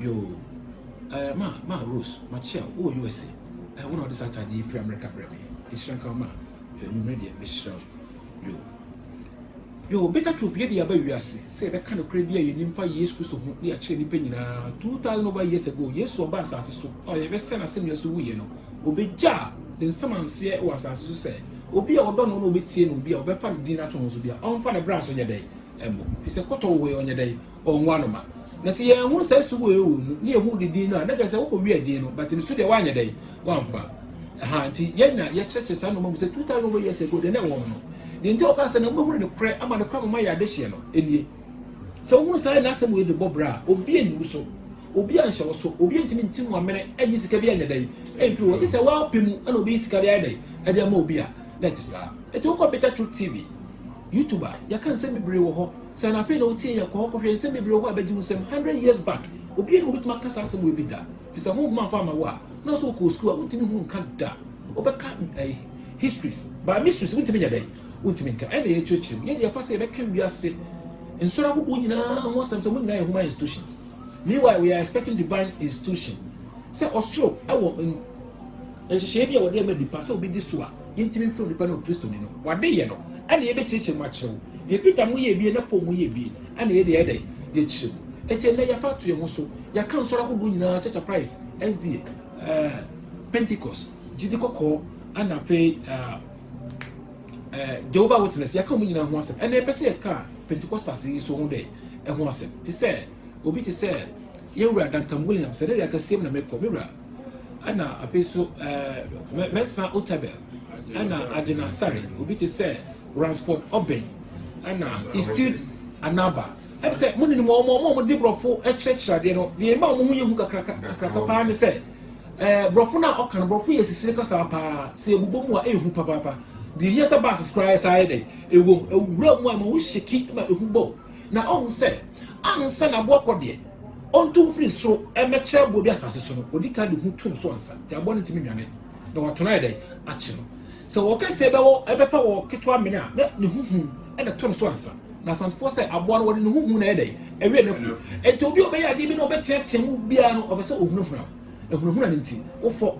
Yoo ɛɛ ma ma Rose makyia wo wɔ USA ɛɛ wo na wode saa ataade yi firi America brɛ me nhyira nka wo ma ɛɛ nwumere deɛ mehyira wo yoo yoo beta troop yɛ de aba wiase sɛ yɛbɛka nokorɛ bi a yɛnim fa Yesu Kristo ho ne akyerɛ nipa nyinaa 2000 over years ago Yesu ɔba asase so a yɛbɛsɛ n'asɛnnua so wuyɛ no obɛgya ne nsamanseɛ wɔ asase so sɛ obi a ɔdɔ no na ɔbɛtie no obi a ɔbɛfa ne din ato ho so bi a ɔmfa ne bra so nyɛ dɛn ɛmmɔ fi sɛ kɔtɔ wɔ hɔ yi ɔnyɛ dɛn wɔn ano ma. Na sɛ yɛanhunu saa su wei wɔ wɔn mu, na yɛhuu ne din no a, na kyerɛ sɛ wɔkɔwiaa din no, but ne su deɛ wɔanyɛ dɛn, wɔamfa. Aha, nti yɛn na yɛkyerɛkyerɛ saa nnoɔma mu sɛ 2000 over years ago, deɛ na ɛwɔ hɔ no. Deɛ nti a wɔkaa sɛ na wɔbɛhunu ne korɛ ama ne korɛ ama mayɛ adehyeɛ no, ɛnie. Sɛ wohunu saa ɛnɛ asɛm wei de bɔ bra a, obi anni wo so, obi anhyɛ wo so, obi antumi nti wo amene, anyi sika bi anyɛ dɛn, amfiri hɔ, gye sɛ w'apɛ mu na ɔbɛyi sika de ayɛ dɛn, de ama obi a. na ɛte saa. Enti wokɔ Bitter Truth TV, YouTube a, yɛka nsɛm bebree wɔ hɔ. Sɛ anafei na wotie yɛn, kɔ hɔ kɔhwɛ nsɛm bebree wɔ hɔ a ɛbɛgye wo nsam. Hundred years back, obiara nni hɔ a obetumi aka saa asɛm wei bi da. Ɛfiri sɛ honhom amfa amma wo a, na sɛ wokɔɔ sukuu a, wontumi hunu nka da. Wobɛka ɛɛ histories, but mysteries wontumi nyɛ dɛn? Wontumi nka. Ɛna yɛkyerɛkyerɛ mu. Yɛn deɛ yɛfa sɛ yɛbɛka wiase nsɔre ahodoɔ nyinaa ho asɛm sɛ wɔn nyinaa yɛ human institutions. Meanwhile, we are expecting divine institution. Sɛ ɔsoro ɛwɔ nhyehyɛe bi a wɔde ama nipa sɛ obi di so a yentumi mfrɛ onipa no Kristoni no, wɔadeyɛ no, ɛna yɛbɛkyerɛkyerɛ mu akyerɛ wo. Deɛ Peter mu yɛɛ bie na Paul mu yɛɛ bie, ɛna yɛde ayɛ dɛn? Yɛkyerɛ mu. Enti ɛnnɛ yɛafa ato yɛn ho so, yɛaka nsɔre ahodoɔ nyinaa, Church of Christ, SDA, uh, eh, Pentecost, gyidi kɔkɔɔ, ɛna afei uh, uh, Jehovah Witness, yɛaka wɔn nyinaa ho asɛm. Ɛna yɛpɛ sɛ yɛka Pentecostals yi so ho dɛ ɛho asɛm. Te sɛ, obi te sɛ, yɛwura Duncan Williams, ɛdɛ deɛ akɛseɛm na mekɔ, mewura ɛna afei nso ɛɛ Mensah Otabil, ɛna Adjena Sarr, obi te sɛ Ransford Obeng, ɛna Istil Anaba. Ɛbi sɛ mo ninom wɔn wɔn wɔn de borɔfo kyerɛkyerɛ adeɛ no deɛ ɛma wɔn ho yɛ hu kakra kakra paa ne sɛ ɛɛ borɔfo no a ɔka no borɔfo yɛ sisire kasa paa sɛ ebobɔ mu a ɛyɛ hu papaapa deɛ yɛ sɛ baasi koraa yɛ saa yɛ dɛ ewom ewura mu a ma wo hyeki ma ehu bɔ na ɔhu sɛ ansa na aboa kɔ deɛ, ɔntu mfiri soro mmɛkyerɛ aboa bi asase so no, ɔdi kan de hu tom so ansa, nti aboa no ntumi nnwane na wato no ayɛ dɛn akye no. Sɛ wɔ kɛseɛ bɛwɔ ɛbɛfa wɔ ketewa mene a, na ne ho hu na ɛto no so ansa. Na Asantefoɔ sɛ aboa no wɔde ne ho hu na ɛyɛ dɛn ɛwɛn no afu. Nti obi a ɔbɛyɛ adeɛ bi na ɔbɛteatea mu biara no ɔpɛ sɛ ɔhunahuna wo. Ɛhunahuna no nti wofɔ.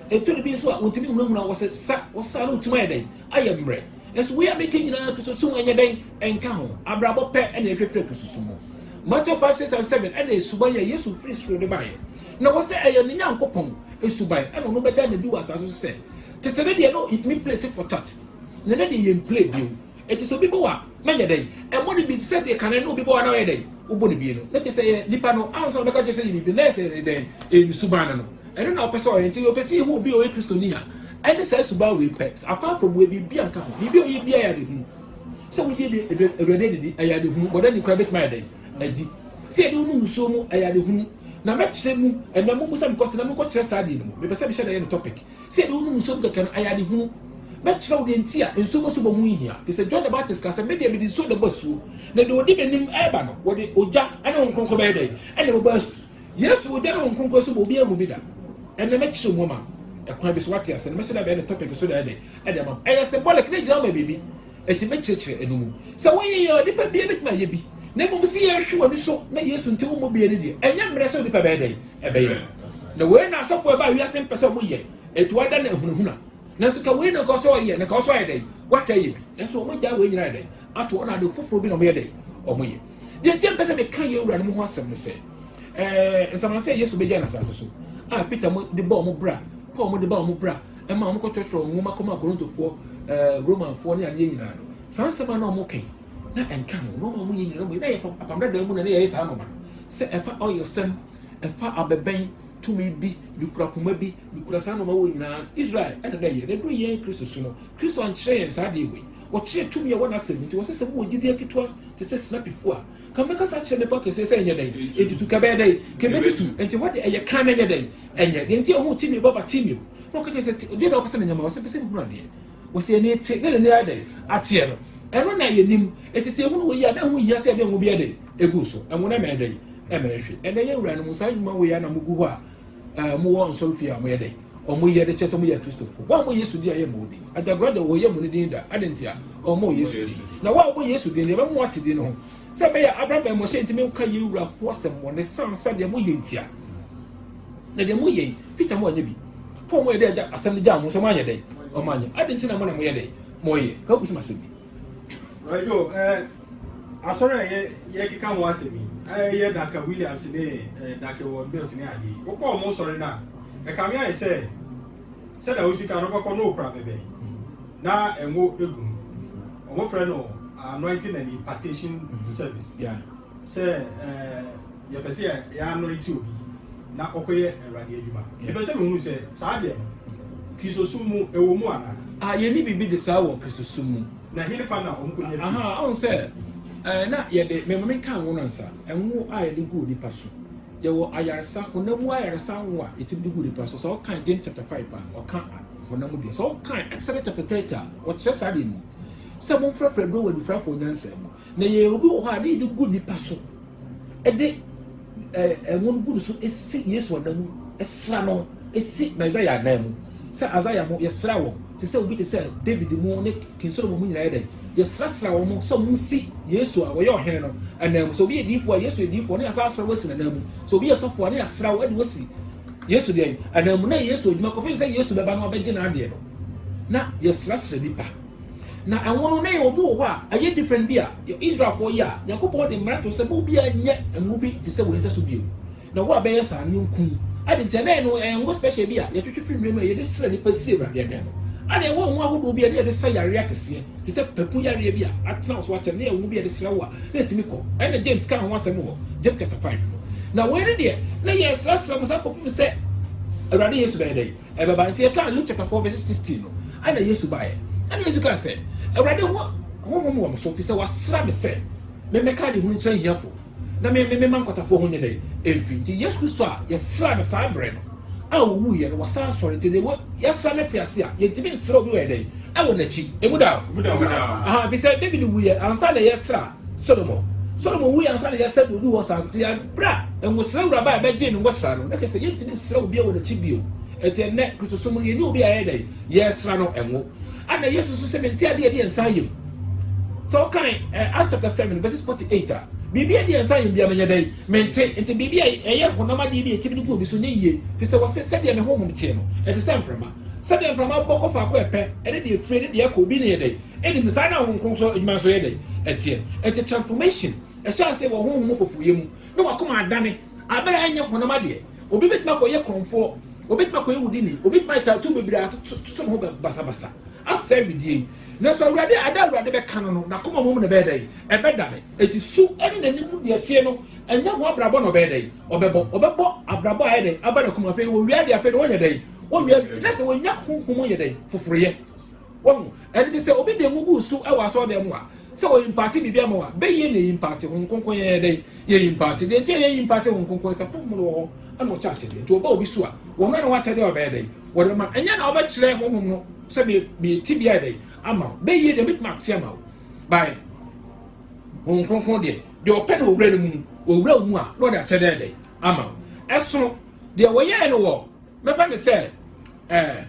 Ɛtɔ da bi nso a wontumi nhunahuna wo, wɔsɛ sa wo sa na wotim ayɛ dɛn ayɛ mmerɛ. Nso wei a meka nyinaa kususu ho nyɛ dɛn nka ho. Abrabɔ pɛ na ɛhwehwɛ kususu ho. Matthew 5, 6 and 7 ɛna suban a Yesu firi soro de baeɛ. Na wɔ sɛ ɛyɛ ne Nyankopɔn suban ɛna ɔno bɛda no adi wɔ asase so sɛ tete no deɛ no yɛtumi plate for tat. Na ɛnɛ deɛ yɛn plate bio. Ɛti sɛ obi bɔ a na yɛ dɛn ɛmɔ no bi sɛ deɛ kane no obi bɔ a na ɔyɛ dɛn wobɔ no bi no. Na kyɛ sɛ yɛ nipa no ansa na ɔbɛka kyerɛ sɛ yɛ biribi na yɛ sɛ yɛ dɛn ɛyɛ ne suban no no. Ɛno na ɔpɛ sɛ ɔyɛ. Enti ɔpɛ sɛ yehu obi a ɔyɛ Kristoni a ɛne saa suban wei pɛ. Akwan afam wei, biribiara nka ho. Biribi a ɔyɛ biara yɛ adehunu. Sɛ wogye Awurade adidi, ɛyɛ adehunu. Bɔne ani koraa betumi ayɛ dɛn adi? Sɛ yɛde wo no wusuo mu, ɛyɛ adehunu. Na mɛkyerɛ mu ɛnnɛ. Mommu sɛ mekɔ so na menkɔkyerɛ saa adeɛ no mu. Mepɛ sɛ mehyɛ da yɛ no topic. Sɛ yɛde wo no wusuo mu kɛkɛ no, ɛyɛ adehunu. Mɛkyerɛ wo deɛ nti a nsuo bɔ so bɔ ho nhia. Ɛfiri sɛ John the Baptist kaa sɛ, Me deɛ, mede nsuo na ɛbɔ asuo, na deɛ ɔdi m'anim reba no, wɔde ogya ne Honhom Kronkron bɛyɛ dɛn? Na ɛbɛbɔ asu. Yesu ogya ne Honhom Kronkron so ma obiara mu bi da. Ɛnnɛ mɛkyerɛw mu ama wo kwan bi so, woate ase no. Mɛhyɛ daabi ne topic so daabi de ama wo. Ɛyɛ symbolic, na egyina ma biribi. Enti mɛkyerɛkyerɛ ɛno mu. Sɛ woyɛ yɛ a, onipa biara betumi ayɛ bi. Na mmom sɛ yɛhwɛ w'ani so na Yesu nti wommɔ bi ani deɛ, ɛnyɛ mmerɛ sɛ onipa bɛyɛ dɛn? Ɛbɛyɛ. Na wei na asɔfo a ɛbaa wiase mpɛ sɛ wɔyɛ, enti wɔada no ahunahuna. Nanso ka wei na nka ɔsɛ sɛ ɔyɛ, na nka ɔsɛ sɛ ɔyɛ dɛn? Wataa yɛ bi. Nanso wɔagyaa wei nyinaa ayɛ dɛn? Ato hɔ, na ade foforɔ bi na wɔyɛ dɛn? Wɔyɛ. Deɛ nti a mpɛ sɛ meka yɛn wura no mu ho asɛm ne sɛ, ɛɛ nsamanse a Yesu bɛgya n'asase so a Peter mo de bɔ wɔn bra, Paul mo de ba wɔn bra, ɛma wɔn kɔtwerɛtwerɛ nwoma kɔma Korintofoɔ, ɛɛ Romanfoɔ ne adeɛ nyinaa no. Saa nsɛm a na wɔn kɛn na ɛnka ho na wɔn yɛ nyinaa wɔn na yɛ apam dada mu na ne yɛyɛ saa nɔma no sɛ ɛfa ɔyɛ sɛm ɛfa abɛbɛn tumi bi ne kura poma bi ne kura saa nɔma wɔ nyinaa Israel ɛna dɛ yɛ na ɛduru yɛn Kristo so no Kristo ankyerɛ yɛn saa deɛ wɔ yi Wɔkyerɛ tumi a ɛwɔ n'asɛm mu nti, wɔsɛ sɛ mowɔ gyidie ketewa te sɛ sinapi fua a. Ka mɛkasa akyerɛ mmepɔ kɛseɛ sɛ ɛnyɛ dɛn? Ɛntutu. Ka ɛbɛyɛ dɛn? Ka ɛbɛtutu. Ɛnti hɔ deɛ ɛyɛ kann na ɛnyɛ dɛn? Ɛnyɛ. Deɛ nti a ɔhuu Timeo ba Bartimeo na ɔka kyerɛɛ sɛ, Te, deɛ na wopɛ sɛ menya ma wo? Ɔsɛ, Mepɛ sɛ mehunu adeɛ. Wɔsɛ, Yɛ'ni te, na n'ani ayɛ dɛn? Ateɛ no. Ɛno na yɛnim. Ɛnti sɛ yɛhunu woi a, na ɛho nhia sɛ yɛde ngo bɛyɛ dɛn? Ɛgu so. Ngo no ɛmɛyɛ dɛn? Ɛmɛyɛ hwe. Ɛnɛ yɛn wuranom, saa nnwuma woi a na mogu hɔ a, Eh, mo wɔ nsɔre fie a mo yɛ dɛ? Ɔ mo yɛ de kyɛ sɛ mo yɛ akristofo. Wɔn a mo yɛ Yesu din a yɛ mo din. Agyagoragya wɔ yɛ mo no din da. Adɛn nti a? Ɔ mo Yesu din. Na wɔn a wɔbɔ Yesu din no, yɛ bɛ ma mo ate din no ho. Sɛ ɛbɛ yɛ abra bɛn mo hyɛ ntumi nka yɛn wura ho asɛm bɔ ne san sɛ deɛ mo yɛ nti a. Na deɛ mo yɛ yi, Peter mo anyɛ bi. Paul mo yɛ dɛ agya asɛm no gyaa mo nso mo anyɛ dɛ? Ɔ mo anyɛ. Adɛn nti na mo na mo yɛ dɛ? Mo yɛ. Ka wo kusum asɛm bi. Bra Joe, eh, asɔre a yɛ yɛ keka ho asɛm yi, eh, yɛ Daka Williams ne eh, Daka Ward Mills ne adeɛ. Wokɔ ɔmo nsɔre no a, ɛkame ayɛ sɛ sɛ na wo sika no bɛkɔ no okura bɛbɛn na ɛngo egu mu. Ɔmo frɛ no anointing and impartation service. Yeah. sɛ yɛpɛ sɛ yɛanɔɛte obi na ɔkɔyɛ Awurade adwuma. Mepɛ sɛ mehunu sɛ saa deɛ no, Kristosom mu ɛwɔ mu anaa? Ah, yɛnni biribi de saa wɔ Kristosom mu. Na henefa na wɔkɔnya fii? Aha, wohu sɛ, ɛɛ, na yɛde, me maame kaa ngo no ansa, ngo a yɛde gu onipa so. Yɛwɔ ayaresa, honam mu ayaresa ngo a yɛtumi de gu onipa so. Sɛ wokan James chapter five a, ɔka honam mu deɛ. Sɛ wokan Exodus chapter thirty a, wɔkyerɛ saa deɛ no mu. Sɛ momfrɛfrɛ aduro wɔ anifirafoɔ nyansa mu. Na yɛyɛ obi wɔ hɔ a, ne yɛde gu nnipa so, de ɛɛ ngo no gu ne so si Yesu anan mu, sra no si Messiah anan mu. Sɛ Isaiah mo, yɛsra wɔn, te sɛ obi te sɛ David mo ne King Solomon mo nyinaa yɛ dɛn? Yɛsrasra wɔn sɛ wɔn nsi Yesu a wɔyɛ ɔhene no anan mu. Sɛ obi yɛ diifoɔ a, Yesu yɛ diifoɔ, ne yɛsan asra wɔasi n'anan mu. Sɛ obi yɛ sɔfoɔ a, ne yɛasra wo de wɔasi Yesu deɛ anan mu. Na Yesu adwuma kɔpem sɛ Yesu bɛba na wabɛgye n'adeɛ no, na yɛsrasra nnipa. Na ɛnwono na yɛwɔ bi wɔ hɔ a ɛyɛ different bi a yɛ Israelfoɔ yɛ a Nyankopɔn de mmara to sɛ mo biaa nyɛ ngo bi te sɛ wei nsa so bio. Na wo a bɛyɛ saa no yɛnku wo. Ade nti ɛnɛ no ɛyɛ ngo special bi a yɛtwetwe firi nwura mu a yɛde srɛ nipa si Awurade ɛdɛn no. Ana ɛwɔ ngo ahodoɔ bi a na yɛde sa yareɛ akɛseɛ te sɛ papu yareɛ bi a atena wo so akyɛre na ɛyɛ ngo bi a yɛde srɛ wo a na ɛtumi kɔ. Ɛna James kaa ho asɛm wɔ James chapter five no. Na wei no deɛ na yɛsrɛsrɛ mo saa kɔpem sɛ Awurade Yesu bɛyɛ dɛn? Ɛbɛba. Enti ɛkaa Luke chapter four verse sixteen no, ɛna Yesu baeɛ. Ɛna Yesu kaa sɛ, Awurade, ho honhom wɔ me so, ɛfiri sɛ wɔasra me sɛ memmɛka adehunu nkyerɛ ahiafoɔ, na me, me, memma nkwatafoɔ ho nyɛ dɛn? Mfi. Nti Yesu Kristo a yɛsraa no saa berɛ no a ɔwuiɛ no, wasan asɔre. Nti deɛ yɛasra no ate ase a, yɛntumi nsra obi wɔ yɛ dɛn? Wɔ n'akyi. Emu da hɔ. Aha, ɛfiri sɛ David wuiɛ ansa na yɛsra Solomon. Solomon wui ansa na Yeseb reduu hɔ saa, nti bere a ngosra wura bae bɛgyee ne ngosra no, na kyerɛ sɛ yentumi nsra obiara wɔ n'akyi bio. Enti ɛnnɛ, Kristosom mu no, yɛnyɛ obi a yɛyɛ dɛn? Yɛsra no ngo. Ɛnna Yesu nso sɛ, Me nte adeɛ a ɛde yɛn nsa ayam. Sɛ wokan eh, Acts chapter 7, verses 48 a, biribi a ɛde yɛn nsa ayam biara menyɛ dɛn? Mente. Nti biribi a ɛyɛ honam adeɛ bi a yɛtumi de gu obi so nyɛ yie, ɛfiri sɛ wɔse, Sɛdeɛ me honhom teɛ no, ɛte sɛ mframa. Sɛdeɛ mframa bɔ kɔ faako a ɛpɛ, ɛne deɛ ɛfire ne deɛ ɛkɔ obi no yɛ dɛn? Ɛnde mu saa na Honhom Kronkron adwuma nso yɛ dɛn? Ɛteɛ. Enti transformation hyɛ ase wɔ honhom mu foforoyɛ mu, na w'akoma adane abere a ɛnyɛ honam adeɛ. Obi betumi akɔyɛ korɔmfoɔ, obetumi akɔyɛ wudini, obetumi ayɛ tattoo bebree atoto ne ho basabasa, asɛe wedeɛ yi. Nanso Awurade, ada a Awurade bɛka no no, n'akoma mmom na ɛbɛyɛ dɛn? Ɛbɛdane. Enti su ne n'anim mu deɛ ɛteɛ no, ɛnyɛ ho abrabɔ na ɔbɛyɛ dɛn? Ɔbɛbɔ. Ɔbɛbɔ abrabɔ a ɛyɛ dɛn? Aba n'akoma. Afei wɔwia adeɛ, afei deɛ wɔnyɛ dɛn? Wɔwia adeɛ. Na sɛ wɔnya honhom mu yɛ dɛn? Foforoyɛ. Wahu? Ɛno nti sɛ obi de ngo gu wo so wɔ asɔɔdan mu a, sɛ ɔ imparte biribi ama wo a, bɛ yie na ɛ imparte, Honhom Kronkron yɛ yɛ dɛn? Yɛ imparte. Deɛ nti a yɛ imparte Honhom Kronkron ne sɛ Honhom no wɔ hɔ na ɔkyɛ akyɛdeɛ. Nti ɔba obi so a, wɔ hɔ na wɔ akyɛdeɛ a ɔbɛyɛ dɛn? Wɔde bɛma no. Ɛnyɛ na ɔbɛ kyerɛ Honhom no sɛ me me tebea yɛ dɛn ama wo. Bɛ yie deɛ ɔbɛtumi ate ama wo. By Honhom Kronkron deɛ, deɛ ɔpɛ na ɔwura no mu, ɔwura wo mu a, na ɔde akyɛdeɛ ayɛ dɛn? Ama wo. Ɛsono deɛ wɔyɛɛ no wɔ, mɛfa no sɛ, ɛɛ.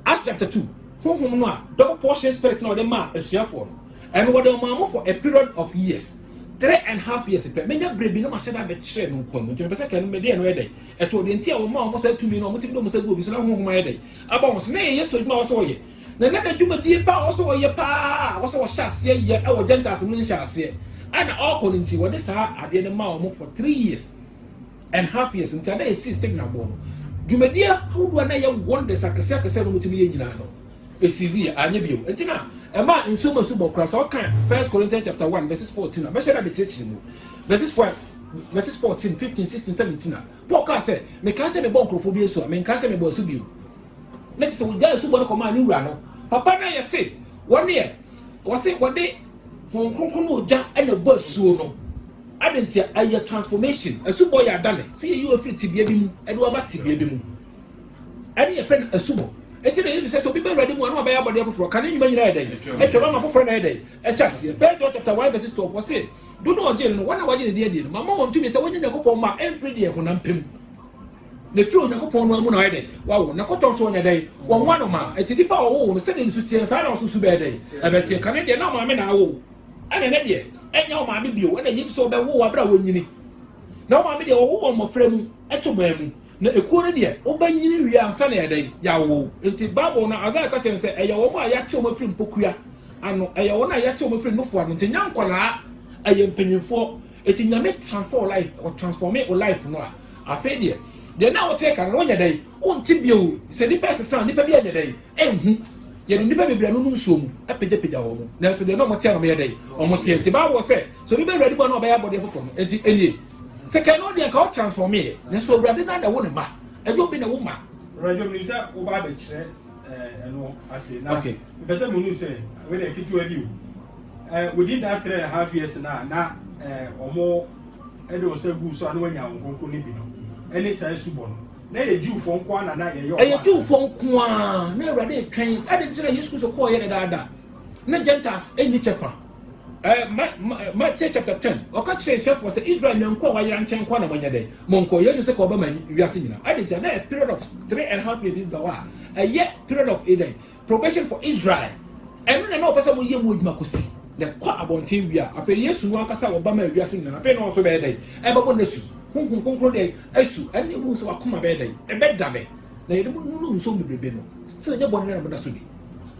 Acts chapter two, honhom no a double portion spirit na wɔde maa asuafoɔ no, ɛno wɔde ɔmaa mo for a period of years, three and half years pɛ. Menya berɛ bi na mahyɛ da abɛkyerɛ no nkwa mu, nti mepɛ sɛ kɛno mede ɛno yɛ dɛn ɛtoɔ deɛ nti a wɔmaa wɔn saa tumi no, wɔtumi de wɔn sa gu obi so na honhom ayɛ dɛn aba wɔn so, na ɛyɛ Yesu adwuma a wɔsɛ wɔyɛ, na na n'adwumadie paa wɔsɛ wɔyɛ paa a wɔsɛ wɔhyɛ aseɛ yɛ ɛwɔ Gentiles no nhyɛ aseɛ a na ɔrekɔ no nti wɔde saa adeɛ no maa wɔn for three years. and half years nti a na yɛsii stigma boɔ no, dwumadie ahodoɔ a na ɛyɛ wonders akɛseakɛseɛ a na wɔtumi yɛ nyinaa no, ɛsiiziiɛ, anyɛ bio. Nti na ɛmaa nsuo mu asubɔ koraa. Sɛ ɔka First Corinthians chapter 1 verses 14 a, bɛhyɛ da bɛkyerɛkyerɛ mu. Verses 4, verses 14, 15, 16, 17 a, Paul kaa sɛ, mekaa sɛ mebɔ nkurɔfoɔ bi asu a, menkaa sɛ mebɔ asu bio. Na kyerɛ sɛ wɔgyaa asubɔ no kɔmaa ne wura no. Papa no yɛ se, wɔn deɛ, wɔse wɔde Honhom Kronkron ne ogya na ɛbɔ asuo no. Adɛn nti a? Ɛyɛ transformation. Asubɔ yɛ adane. Sɛ yɛyi wo firi tebea bi mu de wo aba tebea bi mu. Ɛne yɛfrɛ no asubɔ. Enti na Yesu sɛ sɛ obi ba Awurade mu a na wabɛyɛ abɔdeɛ foforɔ. Kane nnwuma nyinaa yɛ dɛn? Atwam ama foforɔ na ayɛ dɛn? Ahyɛ aseɛ. First John chapter 1 verses 12, ɔse, Do no a ɔgyee no no, wɔn a wɔagye ne din adie no, mama wɔn tumi sɛ wɔnyɛ Nyankopɔn mma a ɛmfiri deɛ honam pɛ mu, Na efiri Onyankopɔn noa mu na ɔyɛ dɛn? Wawo. Na kɔtɔ nso ɔnyɛ dɛn? Wɔnwa no ma. Enti nipa a ɔwoo no, sɛdeɛ ne su teɛ no, saa ara na ɔso su bɛyɛ dɛn? Ɛbɛteɛ. Kane deɛ, na ɔmaame na awo wo. Ɛna ɛnɛ deɛ, ɛnyɛ ɔmaame bio. Ɛna yei nso ɔbɛwo wo aberɛ a wɔnyini. Na ɔmaame deɛ, wɔwo wɔn mmɔfra mu, to man mu. Na ekuo no deɛ, wobɛnyini wie ansa na yɛayɛ dɛn? Yɛawo wo. Enti Bible no, Isaiah ka kyerɛ no sɛ, ɛyɛ wɔn a yɛate wɔn afiri mpokua ano, ɛyɛ wɔn a yɛate wɔn afiri nnofo ano. Enti ɛnyɛ nkwadaa, ɛyɛ mpanimfoɔ. Eti nyame transfer o life o transforme o life no a afei deɛ deɛ na wote kan no wonyɛ dɛn wonte bio sɛ nipa ɛsesa nipa bi ɛnyɛ dɛn ɛnhu yɛde nipa bebree no no nsuo mu ɛpegyapegya wɔn mu nanso deɛ na wɔn teɛ no wɔn yɛ dɛn wɔn teɛ nti baawɔ sɛ sɛ obi bɛ awurade mu a na ɔbɛyɛ abɔdeɛ foforɔ no nti ɛnie sɛ kɛn no deɛ nka ɔtransforme yɛ nanso awurade na na ɛwo ne ma ɛyɛ obi na ɛwo ma. Awurade omi sɛ wo ba abɛkyerɛ. ɛno ase na okay mpɛ sɛ mo nu sɛ wei dɛ ketewa bi o ɛɛ within that three and a half years na na ɛɛ ɔmo ɛde wɔn sɛ gu so a na wɔn anya wɔn kɔnkɔn ne bi no ɛne saa esu bɔ no na yɛ jiwfoɔ nko ara na na yɛyɛ ɔmo ɛyɛ jiwfoɔ nko ara na awurade etwɛn ɛde nkyɛn na yesu kristo kɔɔ yɛ ne daadaa ne gentiles ɛni kyɛ fa. Matthew chapter ten ɔka kyerɛ Israelfoɔ sɛ Israel nyanko a wayera nkyɛn nko na monyɛ dɛ monkɔ Yesu sɛ ka ɔba ma wiase nyinaa adi nti na period of three and half years bi da hɔ a ɛyɛ period of eden probation for Israel ɛno na na ɔpɛ sɛ moyɛ mu adwuma kɔsi na kɔ abɔnten wie a afei Yesu no ankasa ɔba ma wiase nyinaa afei na ɔso bɛyɛ dɛ ɛbɛbɔ na su honhom kronkron dɛ asu ɛne ɛmu sɛ wakoma bɛyɛ dɛ ɛbɛda dɛ na yɛde mo nunu nsuo bebrebe no still nyɛ bɔne na moda so di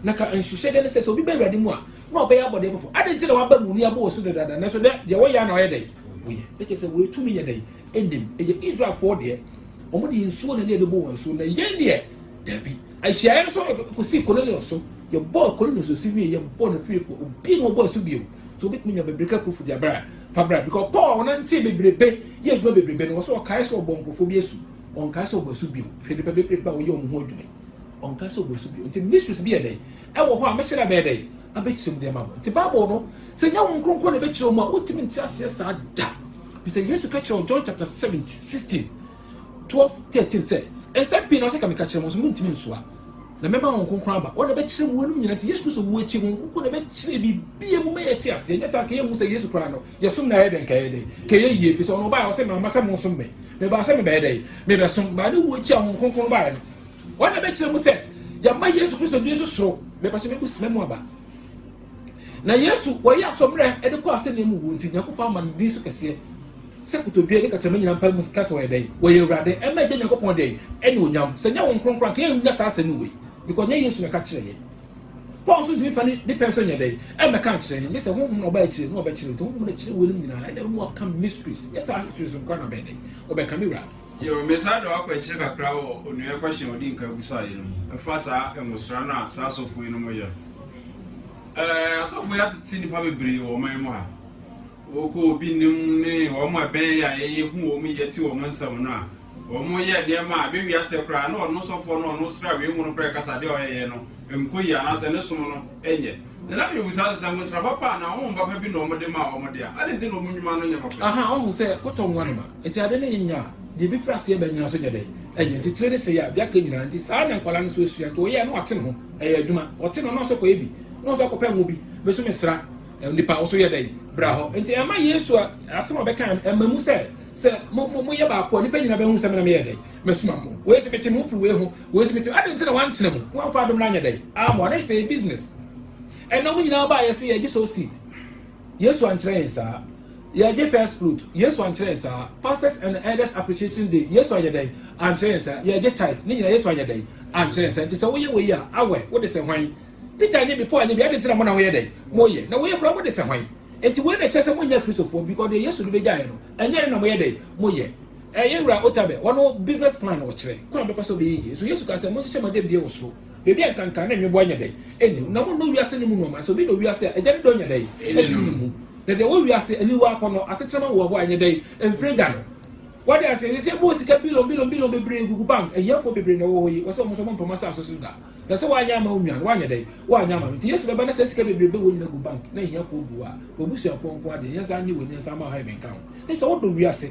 na ka nhyehyɛdeɛ ne sɛ sɛ obi bɛ awurade mu a na ɔbɛyɛ abɔdeɛ foforɔ ade nti na waba mu ni abɔ osu dadaada nanso dɛ deɛ wɔyɛ na ɔyɛ dɛ wɔyɛ ɛkyɛ sɛ wɔatumi yɛ dɛ ɛnim ɛyɛ israelfoɔ deɛ wɔn deɛ nsuo na ne ɛbɛbɔ wɔn nsuo na yɛn deɛ dabi ahyiaeɛ no so kɔsi cornelius so yɛbɔ cornelius osu wie yɛbɔ no fiefoɔ obi na ɔbɔ asu bio so wobɛtumi nya bebreka kufu de abra fa bra because paul ɔnante bebrebe yɛ adwuma bebrebe no wɔ sɛ ɔkae sɛ ɔbɔ nkurɔfoɔ bi asu ɔnkae sɛ ɔbɔ asu bio hwɛ nipa bebrebe a wɔyɛ wɔn ho adwuma ɔnkae sɛ ɔbɔ asu bio nti mysteries bi yɛ dɛ wɔ hɔ a mɛhyɛ da bɛyɛ dɛn? Abɛkyerɛ mu de ama mo. Nti Bible no, sɛ nyɛ Honhom Kronkron na ɛbɛkyerɛ mu a, wontumi nte aseɛ saa da. Fi sɛ Yesu ka kyerɛ wɔn John chapter 7, 16, 12, 13 sɛ, Nsɛm pii na ɔsɛ ka meka kyerɛ mo, nso montumi nsoa. Na mɛma Honhom Kronkron aba, ɔna ɛbɛkyerɛ mu ɛnom nyina. Nti Yesu Kristo wu akyi, Honhom Kronkron na ɛbɛkyerɛ biribiara mu ma yɛate aseɛ. Nyɛ saa nka yɛnhu sɛ Yesu koraa no, yɛsom no a ɛyɛ dɛn? Nka ɛyɛ dɛn? Nka ɛyɛ yie. Fi sɛ ɔno ɔbaeɛ, ɔse mamma sɛ monsom me. Mebaa sɛ mebɛyɛ dɛn? Mebɛsom. Baa ne wuo akyi a Honhom Kronkron baeɛ no, Wɔn na ɛbɛkyerɛ mu sɛ yɛma Yesu Kristo din so soro mepɛkyɛ mebu sima mu aba. Na Yesu wɔyɛ asɔmmerɛ ɛde kɔ asɛnniɛ mu wuo nti Nyankopɔn ama ne din so kɛseɛ sɛ kotodwe ne kakyɛma nyina mpa mu ka sɛ wɔyɛ dɛn wɔyɛ awurade ɛma agya Nyankopɔn dɛn ɛne onyam sɛ nyɛ wɔn kronkron anka yɛnnya saa asɛm wei because nyɛ Yesu na ɛka kyerɛ yɛ Paul nso ntumi fa ne ne pɛn so nyɛ dɛn ɛmmɛka nkyerɛ yɛn gye sɛ honhom na ɔba akyire na ɔbɛkyerɛ nti honhom na kyerɛ wɔn nyinaa ɛna ɛmu aka mysteries yɛ saa nsusu nkwa na bɛn dɛn ɔbɛka me wura Yo, mesan de wo akɔ akyire kakra wɔ Onua question a ɔdi nkan busaeɛ no mu ɛfa saa nwosra no a saa asɔfo yi nom yɛ no. Ɛɛ asɔfo yi atete nipa bebree wɔ ɔman mu ha. Wokɔ obi nim ne wɔn a ɛbɛn yɛ a yɛyɛ hu wɔn yɛ te wɔn nsɛm no a, wɔn yɛ nneɛma a ɛbɛwia sɛ koraa na ɔno sɔfoɔ no a ɔno srawie nwono pɛ kasa adeɛ a ɔyɛyɛ no nkɔ yie anaasɛ ne som no nyɛ. Na na mebisa sɛ, sɛ nwosra papa anaa honhom papa bi na wɔde maa wɔn de a, adɛn nti na wɔn nnwuma no nyɛ papa? Ahaa, woahu sɛ kɔtɔ nwa no ma. Enti ade no nyɛ a, deɛ ɛbɛfiri aseɛ aba nnyina so nyɛ dɛn? Ɛnyɛ. Enti tire no sɛe a, deɛ aka nyinaa. Enti saa na nkwadaa no nso asua. Enti ɔyɛ a, na wate ne ho. Ɛyɛ adwuma. Ɔte no, na ɔsɔ kɔyɛ bi. Na ɔsɔ akɔpɛ ngo bi. Bɛso mesra nnipa a, wo nso yɛ dɛn? Bra hɔ. Enti ɛma Yesu asɛm a ɔbɛkaeɛ no, ɛma mu sɛ, sɛ mo, mo, moyɛ baako a, nnipa nyinaa bɛhu sɛ me na meyɛ dɛn? Mɛsoma mo. Wei sɛ mete mo firi wei ho. Wei sɛ mete. Adɛn nti na wantena mu? Wamfa adom no anyɛ dɛn? Ammɔ. Na sɛ yɛ business. Ɛnna wɔn nyinaa baa yɛse yɛgye sow seed. Yesu ankyerɛ yɛn saa. Yɛgye first fruit. Yesu ankyerɛ yɛn saa. Pastors and elders appreciation day. Yesu anyɛ dɛn? Ankyerɛ yɛn saa. Yɛgye tithe. Ne nyinaa Yesu anyɛ dɛn? Ankyerɛ yɛn saa. Nti sɛ woyɛ wei a, awɛ, wode sɛ hwan? Peter anyɛ bi, Paul anyɛ bi, adɛn nti na mo na moyɛ dɛn? Moyɛ. Na woyɛ koraa mode sɛ hwan? Enti wei na ɛkyerɛ sɛ monyɛ Akristofoɔ because deɛ Yesu de bɛgyaeɛ no, ɛnyɛ ɛno na moyɛ dɛn? Moyɛ. Eh, yɛn Wura Otabil hɔ no business plan na ɔkyerɛ kwan a ɔbɛfa so ɔbɛyɛ yie. Nso Yesu kaa sɛ, Monhyehyɛ mo adebie wɔ soro. Baabi a nkanka ne nweboa nyɛ dɛn nni mu, na monnɔ wiase no mu nnoɔma. Sɛ obi dɔ wiase a, Agya no dɔ nyɛ dɛn nni ne mu. Na deɛ ɛwɔ wiase, aniwa, akɔnnɔ, asetenam hoahoa a ɛnyɛ dɛn mfiri Agya no. Wode aseɛ? Wiase abɔ hɔ sika billion billion billion bebree gugu bank. Ahiafoɔ bebree na ɛwɔ hɔ yi. Wɔsɛ wɔn nso wɔntɔ wɔn asase so da. Na sɛ woanyɛ amma wo nua no, woanyɛ dɛn? Woanyɛ amma no. Nti Yesu bɛba na saa sika bebrebe wɔ nyina gu bank na ahiafoɔ gu hɔ a, w'abusuafoɔ nko ara deɛ, yɛnsa nnye w'ani, yɛnsa mma wo help nka ho. Nso sɛ wodɔ wiase,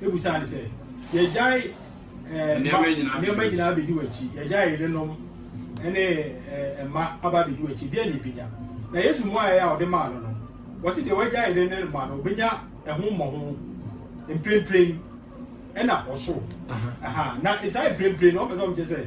ebusaa no sɛ, Yɛagyae eh, nneɛma nyinaa abɛdi w'akyi, yɛagyae yerenom ne eh, mma aba abɛdi w'akyi, deɛ ne ebenya. Na Yesu mmuaeɛ a ɔde maa no no, wɔsi deɛ wagya yere ne mma no, obenya ɛho mmɔho mprempren ɛna ɔsoro. Na saa mprempren no, ɔpɛ sɛ ɔmo kyerɛ sɛ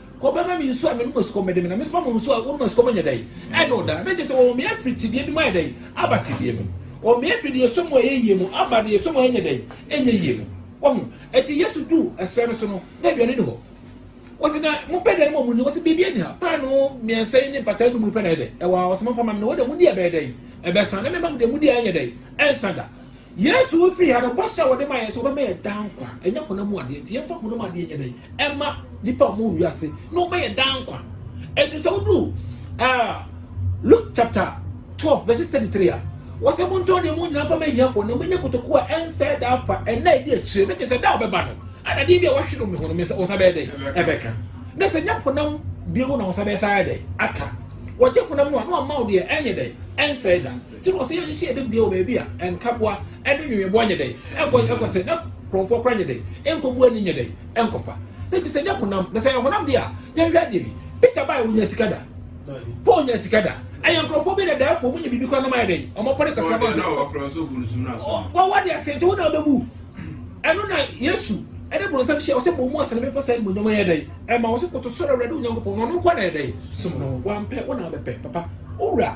Kɔ bɛma me nsu a menom a sukɔm bɛde me, na mesoma mo nsu a wonom a sukɔm nyɛ dɛn ɛne wo da. Na gye sɛ wɔwɔ me afiri tebea bi mu ayɛ dɛn aba tebea bi mu. Wɔwɔ me afiri deɛ ɛsɔ mu a ɛyɛ yie mu aba deɛ ɛsɔ mu a ɛnyɛ dɛn ɛnyɛ yie mu. Wahu? Ɛti Yesu duu ɛserɛ no so no, na aduane ni hɔ. Wɔsi na mo pɛ aduane ma ɔmo ni, wɔsi biribi ɛni ha, paanoo mmiɛnsa yi ne mpataa nnum yi pɛ na ɛyɛ dɛn ɛwɔ ha, wɔsi mo mfa ma me na wɔn deɛ mo di ɛbɛyɛ dɛn ɛbɛsa, na me mma mo deɛ mo di a ɛnyɛ dɛn ɛnsa da. Yesu wu fii ha no, bɔhyɛ a wɔde maa yɛn sɛ ɔbɛma yɛn daa nkwa, ɛnyɛ honam mu adeɛ, enti yɛmfa honam adeɛ nyɛ dɛn ɛma nnipa a wɔwɔ wiase na ɔma yɛn daa nkwa. Enti sɛ woduru uh, Luke chapter 12 verse 33 a, wɔsɛ montɔn deɛ mo nyinaa mfa ma ahiafoɔ na moanya kotokuo a ɛnsɛe daa fa ɛnna ɛdi akyire no kyɛ sɛ da a ɔbɛba no ana deɛ bi a wɔahwe no meho no me sɛ wɔsa bɛyɛ dɛn ɛbɛka na sɛ nya honam bio na wɔsa bɛyɛ saa dɛn aka wɔgye honam no a na wɔma wo deɛ ɛnyɛ dɛn ɛnsɛe da Nti na ɔsɛ yɛnhyehyɛ yɛn debea wɔ baabi a nkaboa ne nweweboa nyɛ dɛn nkɔ nkɔ sɛ na kurɔfoɔ kora nyɛ dɛn nkɔbu ani nyɛ dɛn nkɔfa na ɛfiri sɛ nyɛ honam na sɛ yɛ honam deɛ a yɛnhwɛ adeɛ bi peter bae wonya sika da paul nya sika da ɛyɛ nkurɔfoɔ bi na daafoɔ mu nya biribi kora na mayɛ dɛn ɔmɔpɔne kakra bɔ sɛ wɔwɔ deɛ ase nti wo na wobɛbu ɛno na yesu ɛne bonsam hyɛ ɔsɛ bɔ mu asene bɛfɔ sɛ ɛne monyam yɛ dɛn ɛma wɔ sɛ koto sɔrɔ awurade onyankopɔn na ɔno nkɔ na yɛ dɛn som no wampɛ wo na wobɛpɛ papa wowura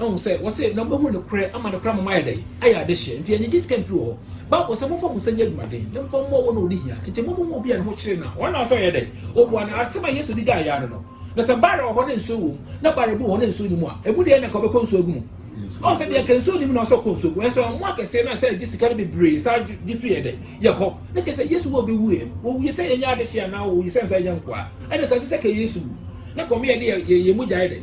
Ahu sɛ wɔse na wobɛhu nokorɛ ama nokorɛ ama moayɛ dɛn? Ayɛ adehyeɛ. Enti ɛnyɛ gye sika mfiri wɔ hɔ. Bible sɛ momfa mo nsa nyɛ adwumaden na momfa mmɔ wɔn a wɔdi hia. Enti mo mo hu obi a ne ho kyere no a, ɔnna sɛ ɔyɛ dɛn? Ɔbua no. Asɛm a Yesu de gyae yɛ ano no, na sɛ barrel wɔ hɔ na nsuo wom, na barrel bi wɔ hɔ na nsuo nni mu a, emu deɛn na anka ɔbɛkɔ nsuo agu mu? Ɔhu sɛ deɛ anka nsuo nni mu na ɔsɛ ɔkɔ nsuo gu. Nanso ɛmmoa kɛseɛ na sɛ agye sika no bebree saa gye firi yɛ dɛn? Yɛ hɔ. Na kyerɛ sɛ Yesu wu a ɔbɛwuiɛ no, ɔwuiɛ sɛ yɛnyɛ adehyeɛ anaa ɔwuiɛ sɛ ansa yɛnyɛ nkoa? Ɛnneɛ ka nso sɛ ka Yesu wu na kɔm yɛ de yɛn mogya yɛ dɛn?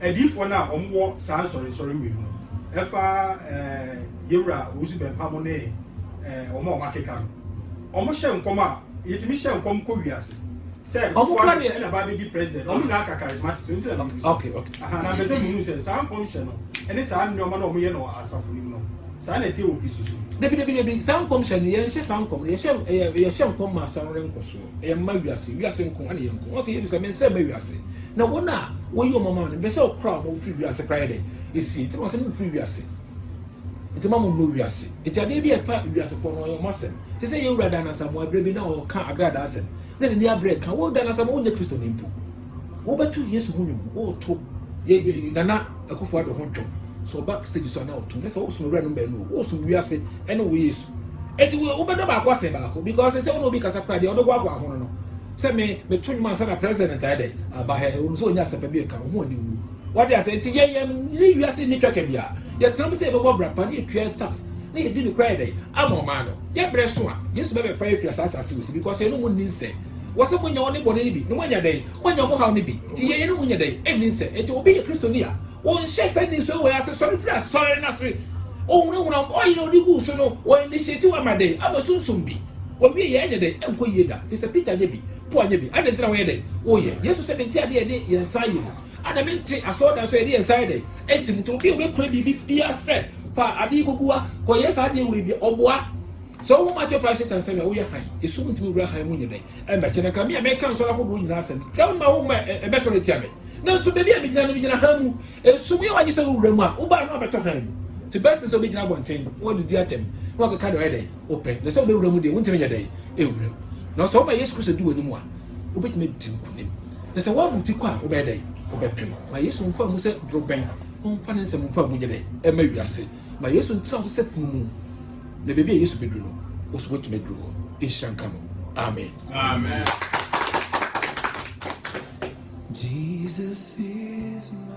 Adiyifoɔ no a wɔn wɔ saa nsɔrensɔre wei mu no, ɛfa Yewura Owusu Bɛmpaamo ne wɔn a wɔn akeka no, wɔn hyɛ nkɔm a, yɛtumi hyɛ nkɔm kɔ wiase. Sɛ Kufu Ado ɛna ba abɛdi president, wɔn nyinaa ka charismatic, so nti na meyɛ bisa. Aha, na mpɛ sɛ munu sɛ saa nkɔm hyɛ no, ɛne saa nneɛma no a wɔyɛ no wɔ asafo no mu no, saa na ɛteɛ wɔ Kristo som mu. Dabi, dabi, dabi, saa nkɔm hyɛ no, yɛnhyɛ saa nkɔm no, yɛhyɛ, yɛhyɛ nkɔm ma asɔre no nkɔ soɔ. ɛyɛ mma wiase wiase nko ɛna yɛ nko ɔsɛ yɛbisa me nsɛ mma wiase na wɔn a wɔyi wɔn ama no mpɛsɛ ɔkora wɔn firi wiase kora yɛ dɛ esi nti wɔn asɛ mo firi wiase nti ma mo nnɔ wiase nti adeɛ bi ɛfa wiase fɔ no ɔyɛ wɔn asɛm te sɛ yɛwura dan asamoa abirɛ bi na ɔka agrada asɛm na n'ani abirɛ ka wɔ dan asamoa wonyɛ kristo ne mpo wobɛto yesu ho nwom woto nana akufo ado ho dwom sɛ ɔba stage so ana ɔto ne sɛ wosom awura no mbaanu wosom wiase ɛne wo yesu Enti wo wobɛdɔ baako asen baako because sɛ wo na obi kasa koraa deɛ ɔbɛhoahoa ho no no sɛ me meto nnwom ansa na president ayɛ dɛ aba ha ɛwɔ mu sɛ ɔnya asɛmpa bi ɛka ɔho ani wu wade asɛ nti yɛ yɛ ne wiase nni twaka bi a yɛtena mu sɛ yɛbɛbɔ bra pa ne yɛtua tax ne yɛdi no kora yɛ dɛ ama ɔman no yɛ berɛ so a yesu bɛbɛfa yɛfiri saa asase wɔ si because yɛne mu nni nsɛ wɔ sɛ moanya ɔne bɔne no bi na moanya dɛn moanya mo haw no bi nti yɛ yɛne mu nyɛ dɛn ɛnni nsɛ nti obi yɛ kristoni a Wɔnhyɛ saa nniso wei ase, sɔre firi asɔre no ase. Ɔhunahuna ɔyere a ɔde guu so no, wɔ initiate wo ama dɛn? Ama sunsum bi. Wɔwie yɛ ɛnyɛ dɛn? Ɛnkɔ yie da. Firi sɛ Peter anyɛ bi, Paul anyɛ bi. Adɛn nti na wɔyɛ dɛn? Wɔyɛ. Yesu sɛ mente adeɛ a yɛde yɛn nsa ayɛ mu, ɛna mente asɔredan so a yɛde yɛn nsa ayɛ dɛn? Asi mu. Nti obi a ɔbɛkura biribi biara sɛ fa adeɛ kɔgu a, kɔyɛ saa adeɛ wei bi a, ɔboa. Sɛ wohu Matthew 5, 6 and 7 a, woyɛ hann. Esum ntumi nwura hann mu nyɛ dɛn? Ɛmmɛkyɛ na nka me a meka nsɔre ahodoɔ nyinaa asɛm yi, na ma wo ma ɛbɛsɔre atia me. Nanso baabi a megyina no, megyina hann mu. Esum yɛ wo agye sɛ wowura mu a, wo baa no abɛtɔ hann mu. Te bɛse sɛ wobɛgyina abɔnten na wɔdidi atɛm na wɔakeka deɛ ɔyɛ dɛn wopɛ. Na sɛ wobɛwura mu deɛ, wontumi nyɛ dɛn ɛwura mu. Nanso sɛ woma Yesu Kristo di w'anim a, wobɛtumi adi nkonim. Na sɛ woabu ti kɔ a, wobɛyɛ dɛn? Wobɛpem. Ma Yesu mfa mu sɛ dorobɛn, momfa ne nsɛm mfa mu nyɛ dɛn ɛma wiase. Ma Yesu ntena wo so sɛ pono mu, na baabi a Yesu bɛduru no, wo nso woatumi aduru hɔ. Nhyira nka no. Amen. Amen. Jesus is my